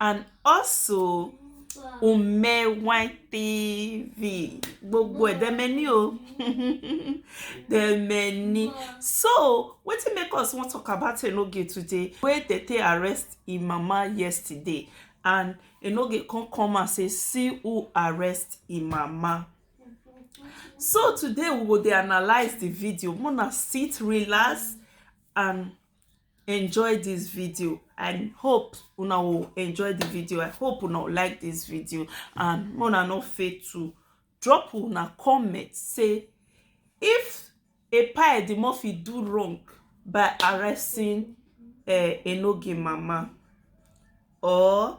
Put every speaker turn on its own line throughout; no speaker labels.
and also Ume Wine TV. Gbogbo ẹ̀ dem many o. dem many. So, wetin make us wan talk about Enoge today? Wey dey take arrest im mama yesterday and Enoge come come and say see who arrest im mama. So today we go dey analyse the video. Mona sit, relax and enjoy this video i hope una will enjoy the video i hope una will like this video and una no fail to drop una comment say if epa edimofi do wrong by arresting uh, enoge mama or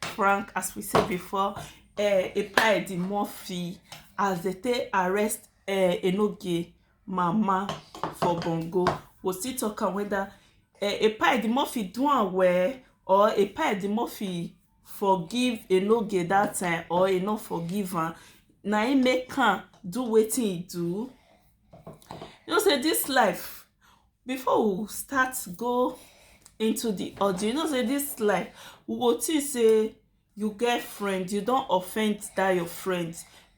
prank as we said before uh, Epa the Murphy as they take arrest uh, Enoge mama for Bongo we still talk am whether uh, eh, Epa the Murphy do am well or Epa the Murphy forgive Enoge that time or e no forgive am na im make am do wetin e do you know say this life before we start go into the audio you know say this life we go think say you get friend you don offend that your friend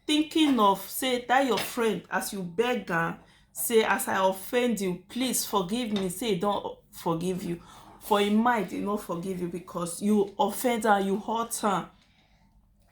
thinking of say that your friend as you beg am say as i offend you please forgive me say e don forgive you for im mind e no forgive you because you offend am you hurt am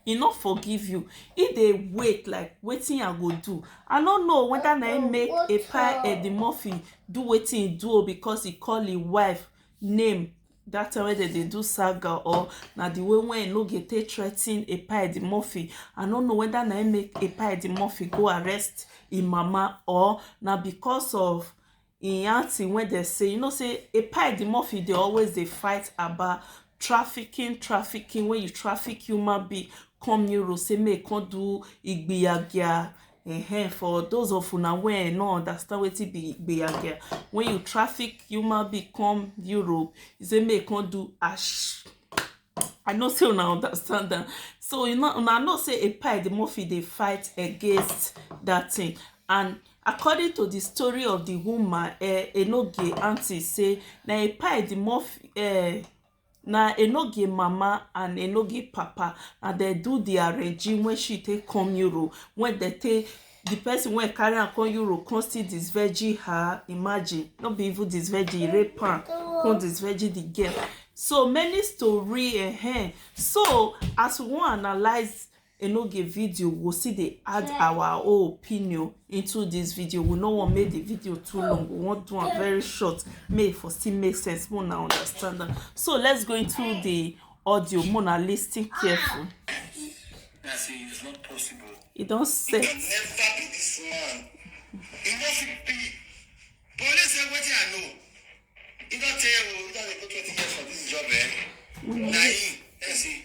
e no forgive you e dey wait like wetin i go do i no know whether na im make epa edimurphy do wetin e do o because e call im wife name that time wey dem dey do saga or na the way wey no get take threaten epa edimurphy i no know whether na im make epa edimurphy go arrest im mama or na because of im aunty wey dem say you know say epai edimofi dey always dey fight about trafficking trafficking wey you traffic human being come europe say make e come do igbiyagia um for those of una wey um no understand wetin be igbiyagia when you traffic human being come europe e say make e come do ash i know say una understand am so una know say epai edimofi dey fight against that thing and According to di story of di woman um Enogie aunty say na a pie di mom um na Enogie mama and Enogie papa na dem do di arranging when she take come Europe when dem take the person wey carry am come Europe come still disvirgin her imagine no be even disvirgin he rape am come disvirgin the girl so many story um so as we wan analyse enoge video we go still dey add yeah. our own opinion into this video we no wan make the video too long we wan do am very short make e for still make sense more na understand am so let's go into the audio more na lis ten careful. e
don set.
e never be this man e no fit
be police say wetin i know e don tell you e don dey go twenty years for this job eh mm -hmm. na him dem say.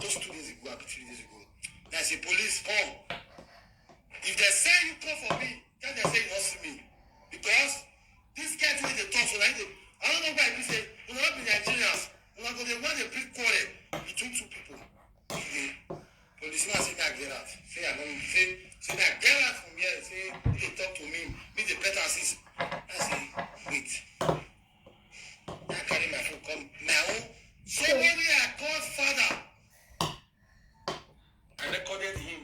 just two days ago abi three days ago na say police come if dem say you come for me tell dem say you no see me because this guy wey dey talk so na him dey i no know why e be say una no be nigerians una go dey wan dey bring quarrel between two people today policeman say make i get out say i no say say make i get out from here say he dey talk to me me dey pet am since i say wait I carry my phone come my own say when we are called father I recorded him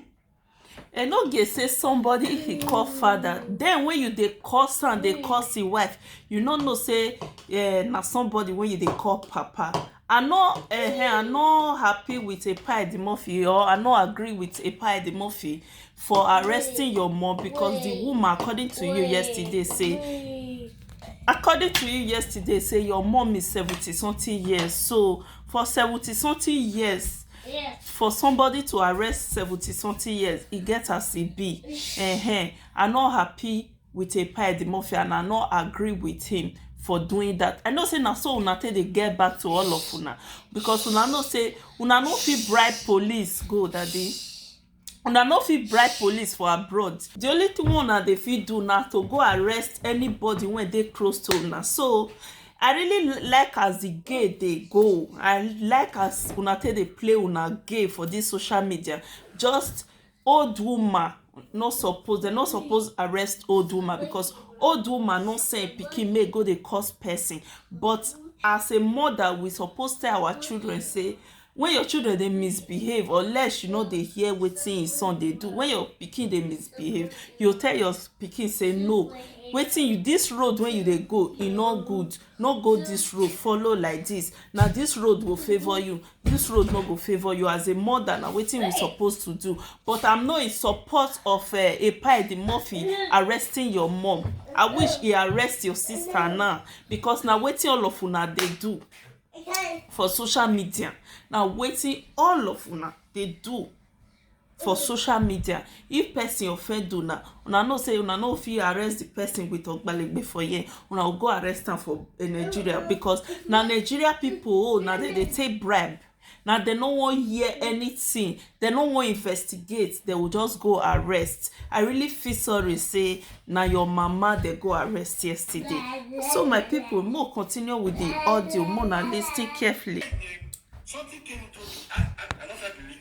e no
get say somebody if he call father then when you dey curse am dey curse him wife you no know say eh, na somebody wey you dey call papa I no uh, I no happy with Epa Edimofi or I no agree with Epa Edimofi for arresting your mom because wait, the woman according to wait, you yesterday say wait. according to you yesterday say your mom is seventy something years so for seventy something years yes. for somebody to arrest seventy something years e get as e be uh -huh. I no happy with a pie the mafia and I no agree with him for doing that I know say na so una take dey get back to all of una because una know say una no fit bribe police go that day una no fit bribe police for abroad the only thing wey una dey fit do na to go arrest anybody wey dey close to una so i really like as the gay dey go i like as una take dey play una gay for this social media just old woman no suppose dem no suppose arrest old woman because old woman no send pikin make go dey cause person but as a mother we suppose tell our children say when your children dey misbehave or less you no dey hear wetin your son dey do when your pikin dey misbehave you tell your pikin say no wetin you this road wey you dey go e no good no go this road follow like this na this road go favour you this road no go favour you as a mother na wetin we suppose to do but i'm not in support of uh, eh, epaidi murphy arresting your mom i wish he arrest your sister now because na wetin all of una dey do for social media na wetin all of una dey do for social media if person offend una, una know say una no fit arrest the person with ogbalegbe for here una go go arrest am for eh, nigeria because na nigeria people oh na dem dey take bribe na dem no wan hear anything dem no wan investigate dem go just go arrest i really feel sorry say na your mama dem go arrest yesterday so my people mo continue with the audio mo na lis ten carefully. Something
came to me. I, I, I don't feel believe.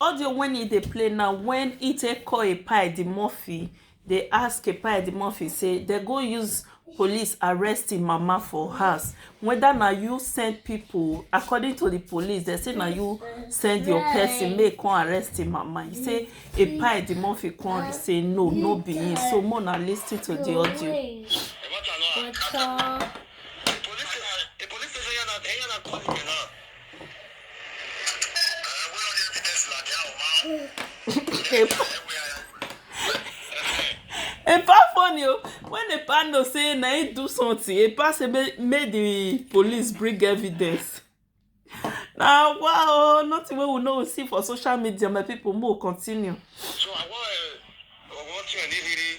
Audio wen e dey play na wen e take call Epa Edimurphy dey ask Epa Edimurphy say dem go use police arrest im mama for house weda na you send pipo according to di police dem say na you send your person make e come arrest im mama e say Epa Edimurphy come say no no be him so make una lis ten to di audio. What's up? epa funny o when epa know say na him do something epa say make make the police bring evidence na wa o nothing wey we no go see for social media my people make we continue. So I want
uh, I want you and Ihiri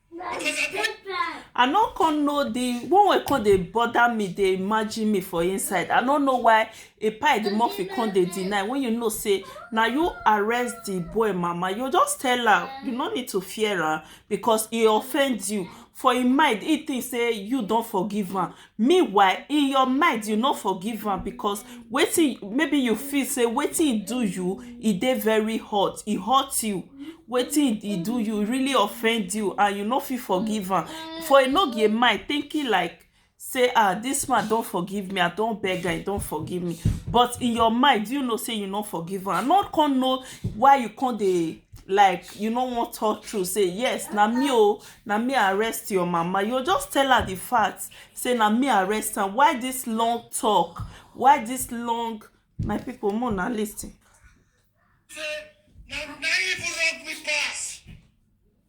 i no come know the one wey come dey bother me dey imagine me for inside i no know why epai the murphy come dey deny when you know say na you arrest the boy mama you just tell am you no need to fear am because he offend you for im mind he think say you don forgive am meanwhile in your mind you no forgive am because wetin maybe you feel say wetin he do you e dey very hot e hurt you wetin he do you really offend you and you no fit forgive am for enogie mind thinking like say ah this man don forgive me i don beg am he don forgive me but in your mind you know say you no forgive am i no come know why you come dey like you no wan talk true say yes na me o na me arrest your mama you just tell her the fact say na me arrest am why this long talk why this long my people more na lis ten. say
na na even wrong me pass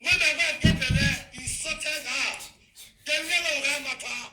when my wife get belle he sorted out dem never oga matter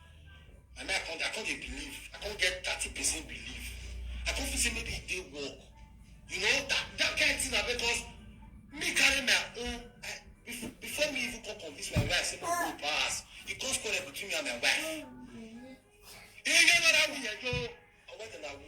na me i come i come dey believe i come get thirty percent believe i come feel say maybe e dey work you know that that kind thing na because me carry my own I, bef- before me even come convince my wife say my own pass e come quarrel between me and my wife. Iye nara mi yẹ yo, ọwọ́ ìdàgbà wú.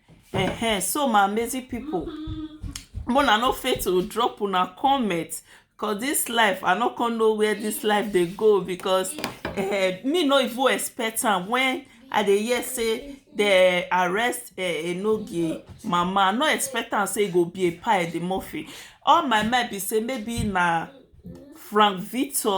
Uh-huh. So my amazing people, when I no fail to drop una comment cause this life I no come know where this life dey go because uh, me no even expect am when I dey hear say dey arrest uh, Enogie mama I no expect am say e go be a pie the Murphy all my mind be say maybe na Frank Victor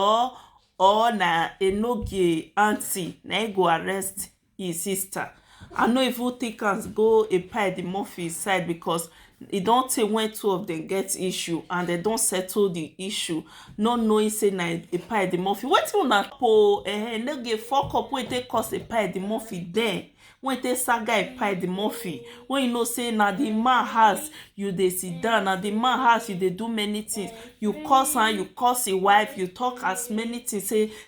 or na Enogie aunty na e go arrest im sister I no even take am go Epa-Edimofin side because e don tey when two of them get issue and they don settle the issue not knowing say na Epa-Edimofin wetin una po eh no dey fuck up wey take cause Epa-Edimofin then wey take saga Epa-Edimofin when you know say na the man house you dey sit down na the man house you dey do many things you curse am you curse im wife you talk as many things say